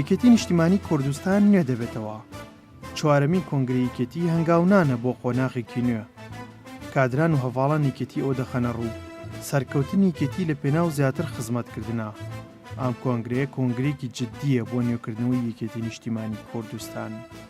یەکێتی نیشتیمانی کوردستان نوێ دەبێتەوە چوارەمین کۆنگری یەکێتی هەنگاونانە بۆ قۆناغێکی نوێ کادران و هەواڵان یەکێتی ئەو دەخەنە ڕوو سەرکەوتنی یەکێتی لە پێناو زیاتر خزمەتکردە ئەم کۆنگرەیە کۆنگرێکی جددیە بۆ نوێکردنەوەی یەکێتی نیشتیمانی کوردستان.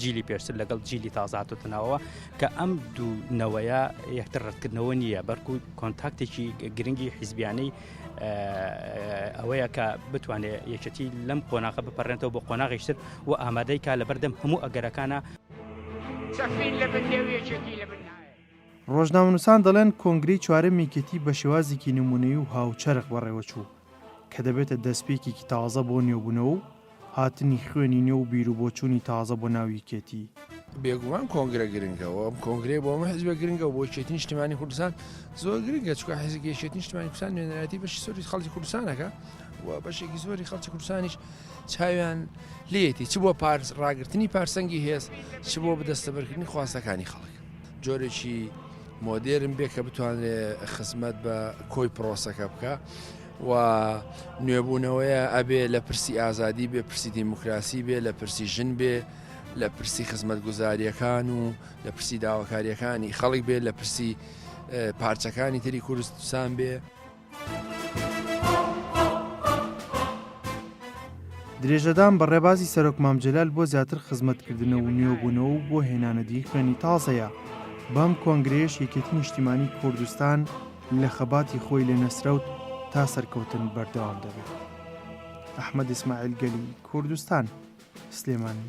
جیلی پێشتر لەگەڵ جیلی تازاتوتنەوە کە ئەم دوو نەوەیە یەکتر ڕەتکردنەوە نییە بەرکو و کۆنتاکتێکی گرنگی حیزبیانەی ئەوەیە کە بتوانێت یەکەتی لەم قۆناغە بپەڕێنەوە بۆ قۆناغیشتر و ئامادەی کا لە بەردەم هەموو ئەگەرەکانە چەفین لە بندێویەکێتی لە بن ڕۆژنامەنووسان دەڵێن کۆنگرەی چوارەم یەکێتی بە شێوازێکی نموونەیی و هاوچەرخ بەڕێوەچوو، کە دەبێتە دەستپێکێکی تازە بۆ نوێبوونەوە و هاتنی خوێنی نوێ و بیروبۆچوونی تازە بۆ ناو یەکێتی. بێگومان کۆنگرە گرنگە و ئەم کۆنگرەیە بۆ هەموو حزبێک گرنگە و بۆ یەکێتی نیشتیمانی کوردستان زۆر گرنگە، چونکە حزب یەکێتی نیشتیمانی کوردستان نوێنەرایەتی بەشی زۆری خەڵکی کوردستان دەکات و بەشێکی زۆری خەڵکی کوردستانیش چاویان لێیەتی چ بۆ ڕاگرتنی پارسەنگی هێز، چ بۆ بەدەستەبەرکردنی خواستەکانی خەڵک. جۆرێکی مۆدێرن بێ کە بتوانێ خزمەت بە کۆی پرۆسەکە بکە و نوێبوونەوەیە ئەبێ لە پرسی ئازادی بێ پرسی دیموکراسی بێ لە پرسی ژن بێ لە پرسی خزمەت گوزاریەکان و لە پرسی داواکاریەکانی خەڵک بێ لە پرسی پارچەکانی تری کوردستان بێ. درێژەدان بە ڕێبازی سەرۆک مام جەلال بۆ زیاتر خزمەتکردنەوە و نوێبوونەوە و بۆ هێنانەدیی خوێنی تازەیە. بەم کۆنگرەیەش یەکێتی نیشتیمانی کوردستان لە خەباتی خۆی لە نەسرەوت تا سەرکەوتن بەردەوام دەبێت. ئەحمەد ئیسماعیل گەلی کوردستان، سلێمانی.